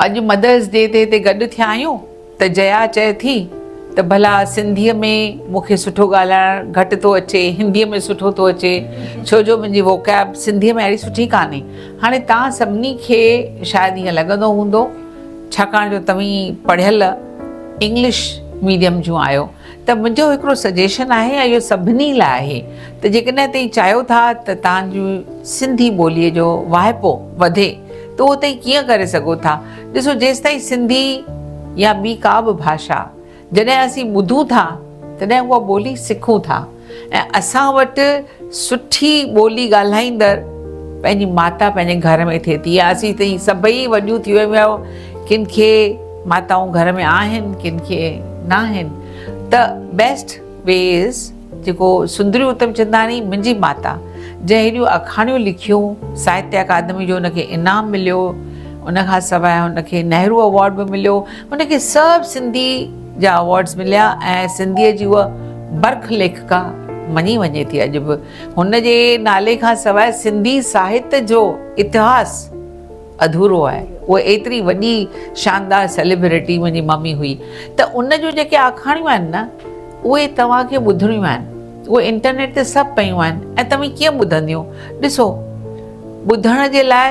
اڄ Mother's Day تي هتي گڏ ٿيا آهيون ته جيا چئي ٿي ته ڀلا سنڌيء ۾ مون کي سٺو ڳالهائڻ گهٽ ٿو اچي هنديء ۾ سٺو ٿو اچي ڇو جو منهنجي ووڪيب سنڌيء ۾ اهڙي سٺي ڪانهي هاڻي توهان سڀني کي شايد ائين لڳندو هوندو ڇاڪاڻ جو توهين پڙهيل انگلش ميڊيم جون آهيو ته منهنجو هڪڙو سجيشن آهي ۽ اهو سڀني لاء آهي ته جيڪڏهن توهين چاهيو ٿا ته توهان جي سنڌي ٻوليء جو واهپو وڌي ته اهو توهين ڪيئن ڪري سگهو ٿا. ڏسو جيستائين سنڌي يا ٻي ڪا به ڀاشا جڏهن اسين ٻڌون ٿا تڏهن اها ٻولي سکون ٿا. ۽ اسان وٽ سٺي ٻولي ڳالهائيندڙ پنهنجي ماتا پنهنجي گهر ۾ ٿئي ٿي يا اسين تائين سڀئي وڏيون ٿي ويون آهيون ڪن کي ماتائون گهر ۾ آهن ڪن کي نه آهن ته بيسٽ وي از جيڪو سندري اتم چنداڻي منهنجي ماتا جنهن هيڏيون اکاڻيون لکيون ساهتيه اڪادمي جو ان کي انعام مليو ان کان سواء هن کي نهرو اوارڊ به مليو هن کي سڀ سنڌي جا ايوارڊز مليا ۽ سنڌيء جي اها برک ليکڪا مڃي وڃي ٿي. اڄ به هن جي نالي کان سواء سنڌي ساهت جو اتهاس اڌورو آهي. اها ايتري وڏي شاندار سيليبريٽي منهنجي ممي هئي ته ان جون جيڪي آکاڻيون آهن نه اهي توهان کي ٻڌڻيون آهن. اهي انٽرنيٽ تي سڀ پيون آهن ۽ توهين ڪيئن ٻڌنديون؟ ڏسو ٻڌڻ جي لاء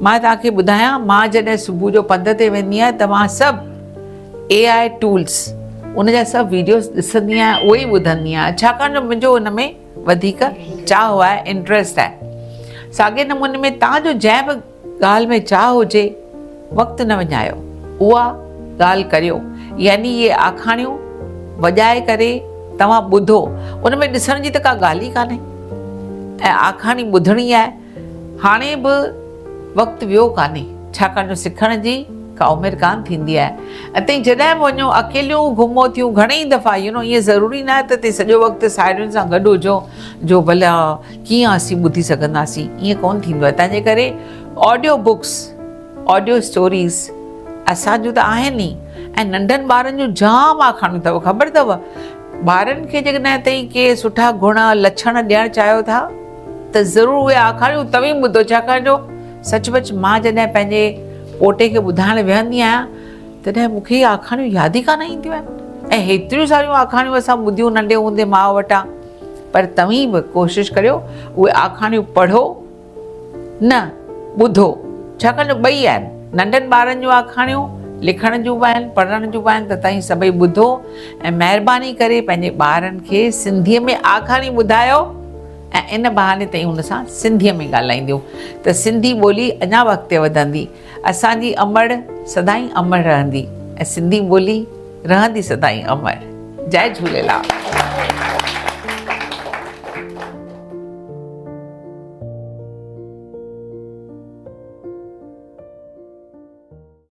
مان توهان کي ٻڌايان مان جڏهن صبح جو پنڌ تي ويندي آهيان ته مان سڀ اي آء ٽولز ان جا سڀ ويڊيوز ڏسندي آهيان اهو ئي ٻڌندي آهيان ڇاڪاڻ جو منهنجو ان ۾ وڌيڪ چاهه آهي انٽرسٽ آهي ساڳي نموني ۾ توهان جو جنهن به ڳالهه ۾ چاهه هجي وقت نه وڃايو اها ڳالهه ڪريو يعني اهي آکاڻيون وڄائي ڪري توهان ٻڌو ان ۾ ڏسڻ جي ته ڪا ڳالهه ئي ڪانهي آکاڻي ٻڌڻي آهي هاڻي به وقت ويو ڪانهي ڇاڪاڻ جو سکڻ جي ڪا عمر ڪانه ٿيندي آهي. اتي جڏهن به وڃو اڪيليون گهمو ٿيون گهڻيئي دفعا يو نو ائين ضروري ناهي ته اتي سڄو وقت ساهيڙين سان گڏ هجو جو ڀلا ڪيئن اسين ٻڌي سگهنداسين ائين ڪونه ٿيندو آهي تنهنجي ڪري آڊيو بڪس آڊيو اسٽوريز اسان جون ته آهن ئي ۽ ننڍن ٻارن جون جام آکاڻيون اٿو خبر اٿو ٻارن کي جيڪڏهن تائين ڪي سٺا گهڻا لڇڻ ڏيڻ چاهيو ٿا ته ضرور اهي آکاڻيون توهين ٻڌو ڇاڪاڻ جو سچ پچ مان جڏهن پنهنجي پوٽي کي ٻڌائڻ ويهندي آهيان تڏهن مون کي اهي آکاڻيون ياد ئي ڪانه اينديون آهن ۽ هيتريون ساريون آکاڻيون اسان ٻڌيون ننڍي هوندي ماء وٽان پر توهين به ڪوشش ڪريو اهي آکاڻيون پڙهو نه ٻڌو ڇاڪاڻ جو ٻئي آهن ننڍن ٻارن جون آکاڻيون لکڻ جون به آهن پڙهڻ جون به آهن ته توهين سڀئي ٻڌو ۽ مهرباني ڪري پنهنجي ٻارن کي سنڌيء ۾ آکاڻي ٻڌايو ۽ ان بهاني تائين هن سان سنڌيء ۾ ڳالهائينديون ته سنڌي ٻولي اڃا به اڳتي وڌندي، اسان جي امڙ سدائين امڙ رهندي ۽ سنڌي ٻولي رهندي سدائين امڙ. جئه جهوليلال.